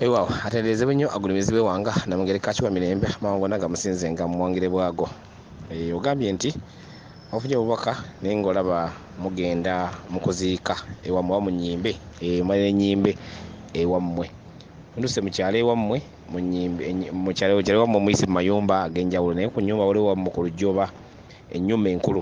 ewaawo atenderezebwe nnyo agulumizibwe wanga namugere kakiwa mirembe amawanga gonna gamusinze nga muwangire bwago eh, ogambye nti ofunye obubaka naye ngaolaba mugenda mukuziika ewammwe oba munyimbe eh, malira enyimbe ewammwe nduse mukyalo ewammwe mukyalo ewammwe muyise mu mayumba ag'enjawulo naye ku nyumba waliwo wammwe ku lujja oba ennyumba enkulu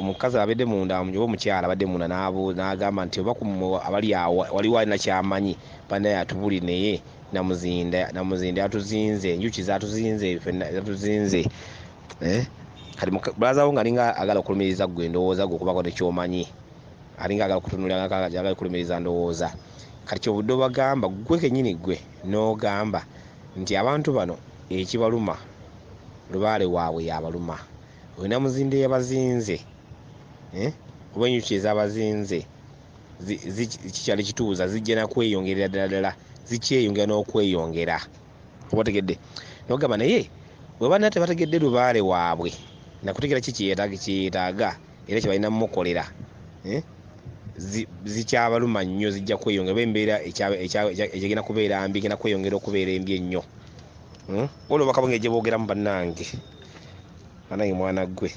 omukazi abadde munda oba omukyala abadde munda n'agamba nti oba abali awo waliwo alina kyamanyi banaye atubuli naye namuzinda namuzinda atuzinze enjuki zatuzinze zatuzinze eh? kati bulazawo nga alinga agala okulumiriza gwe endowooza gwe okubako nekyomanyi alinga agala okutunuliragala okulumiriza ndowooza kati kyobudde obagamba gwe kenyini gwe n'ogamba nti abantu bano ekibaluma lubaale waabwe yabaluma oyo namuzinde yabazinze eh? oba enjuki ezabazinze kikyali kituuza zijja nakweyongerera ddala ddala zikyeyongera n'okweyongera obategedde nogamba naye webanna tebategedde lubaale waabwe nakutegera ki kyeyetaaga era kyebalina mumukolera eh? zikyabaluma nnyo zijja kweyongera embeera egenda kubeera mbi genda kweyongera okubeera embi ennyo hmm? olwo bakabonga egyebogeramu bannange banange mwana gwe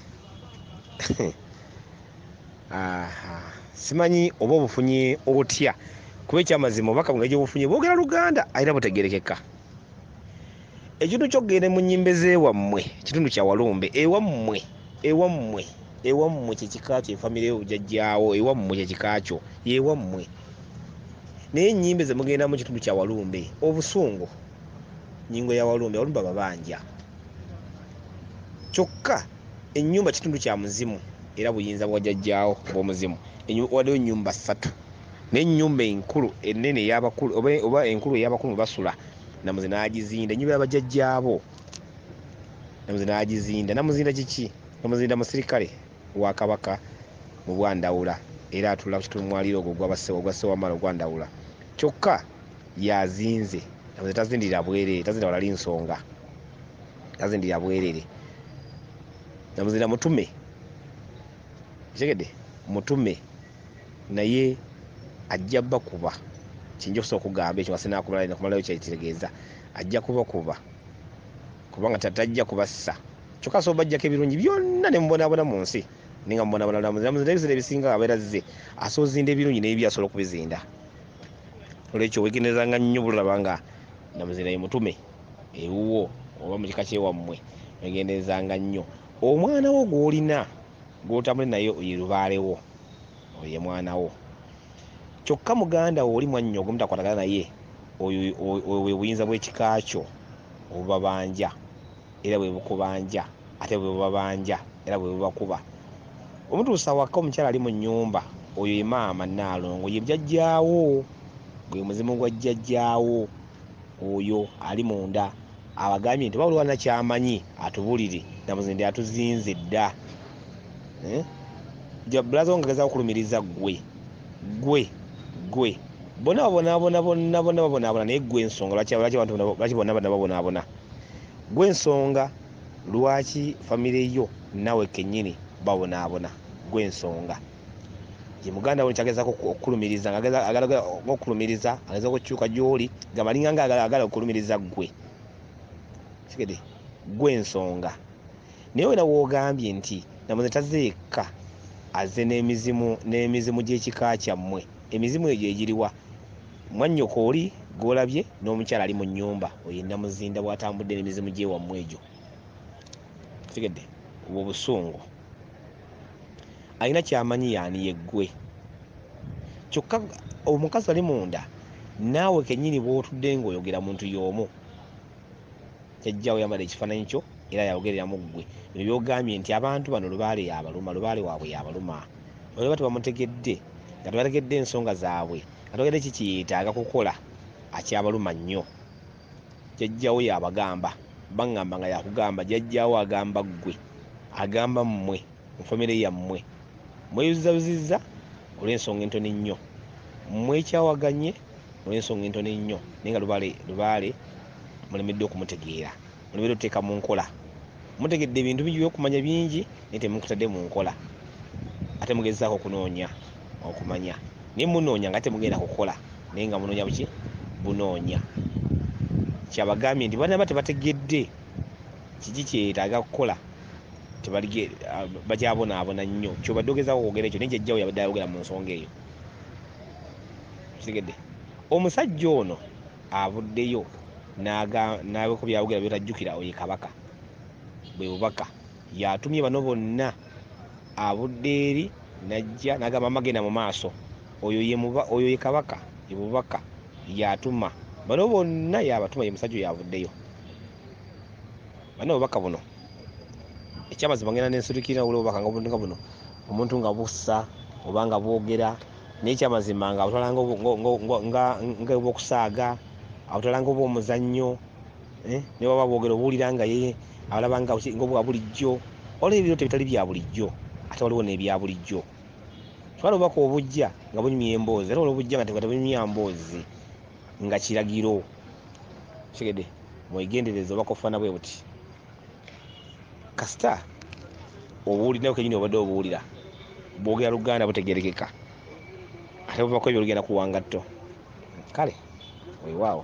simanyi oba obufunye otya kuba ekyamazima obubaka buno egyobufunye bwogera luganda alina butegerekeka ekintu kyokugenda mu nyimba ezewammwe kitundu kyawalumbe ewammwe ewammwe ewammwe kyekikakyo efamire yobujajjawo ewammwe kyekikakyo yewammwe naye enyimba ezemugendamu kitundu kyawalumbe obusungu nyingo ya walumbe walumbe babanja kyokka ennyumba kitundu kya muzimu era buyinza bwajajjaawo bwomuzimu waliwo ennyumba ssatu naye ennyumba enkulu enene eyabakulu oba enkulu eyabakulu basula namuzi nagizinda ennyumba yabajajjaabo namuzi nagizinda namuzinda kiki namuzinda musirikale wa kabaka mu bwandawula era atula ku kitundu mwaliiro ogwo ogwa sewamala ogwandawula kyokka yazinze nze tazindira bwerere tazindira walali nsonga tazindira bwerere namuzindira mutume kitegede mutume naye ajja bakuba kinja okusobola okugamba ekyo ngasinaakumalayo kyekitegeeza ajja kubakuba kubanga tatajja kubassa kyokka asobola bajjako ebirungi byonna nemubonabona mu nsi ninga mubonabona namuzira muzira ebisera ebisinga abeera zze asobola zinda ebirungi nebibi asobola okubizinda olwekyo wegenderezanga nnyo bulaba nga namuzina ye mutume ewuwo oba mu kika kyewammwe wegenderezanga nnyo omwana wo gw'olina gw'otambule naye ye lubaale wo oyo ye mwana wo kyokka muganda wo oli mwannyo ogumu takwatagana naye oyo oyo- oyo bwe buyinza bw'ekika kyo obubabanja era bwe bukubanja ate bwe bubabanja era bwe bubakuba omutuusa awaka omukyala ali mu nnyumba oyo ye maama nnaalongo ye jjajjaawo gwe muzimu gwa jjajjaawo oyo ali munda abagambye nti oba waliwo alina kyamanyi atubulire namuzi nti atuzinze dda eh? jabulaza wo ngageza okulumiriza ggwe ggwe ggwe bona babonaabona bonna bonna babonaabona naye ggwe ensonga lwaki lwaki abantu bona- lwaki bonna bonna babonaabona gwe nsonga lwaki famire yo nawe kenyini babonaabona gwe ensonga ye muganda woni kyagezako okukulumiriza ngaokulumiriza ageza okukyuka gyoli gamalinga nga agala okulumiriza gwe kigede gwe ensonga naye wena wogambye nti namuze tazeekka aze n'emizimu n'emizimu gy'ekika kyammwe emizimu egyo egiriwa Mwannyoko oli gw'olabye n'omukyala ali mu nnyumba oyo nnamuzinda bw'atambudde n'emizimu gy'ewammwe egyo kitegedde obwo obusungu alina kyamanyi yaani yeggwe kyokka omukazi ali munda naawe kennyini bw'otudde ng'oyogera muntu y'omu kyajjawo yambala ekifaananyi kyo era yayogerera mu ggwe bino byogambye nti abantu bano lubaale yabaluma lubaale waabwe yabaluma olaba tebamutegedde nga tebategedde ensonga zaabwe katogede kikiyetaaga kukola akyabaluma nnyo jajjawo yabagamba bangamba nga yakugamba jajjawo agamba ggwe agamba mmwe mufamire yammwe mweyuzizabuzizza olw'ensonga entoni nnyo mwekyawaganye olw'ensonga entoni nnyo naye nga lubaale lubaale mulemeddwa okumutegeera olubeera oteeka mu nkola mutegedde ebintu bingi byokumanya bingi naye temukutadde mu nkola ate mugezaako okunoonya okumanya naye munoonya nga temugenda kukola naye nga munoonya buki bunoonya kyabagambye nti banaba tebategedde kiki kyetaaga kukola ah, bakyabonaabona nnyo kyobadde ogezaako okwogera ekyo naye jajjawo yabadde ayogera mu nsonga eyo kitegedde omusajja ono avuddeyo nabeko byawogera byotajjukira oye kabaka bwe bubaka yatumye bano bonna avudde eri najja nagamba amagenda mu maaso oyo ye kabaka ebubaka yatuma bano bonna yabatuma ye musajja yavuddeyo bana obubaka buno ekyamazima ngenda nensitukirira wula obubaka nga buno omuntu nga bussa oba nga bwogera naye kyamazima nga awutala nga obwokusaaga awutala nga obwomuzannyo eh, ne baba bwogera obuwulira nga ye alaba nga obwa bulijjo waliwo ebiro tebitali bya bulijjo ate waliwo n'ebya bulijjo twala obubaka obujja nga bunyumya emboozi ate waliwo obujja nga tebunyumya mboozi nga kiragiro kigede mwegendereza obubaka obufaana bwe buti kasita obuulinayo kenyini obadde obuwulira bwogera luganda butegerekeka ate buvako ebyo lugenda kuwangatto kale wewaawo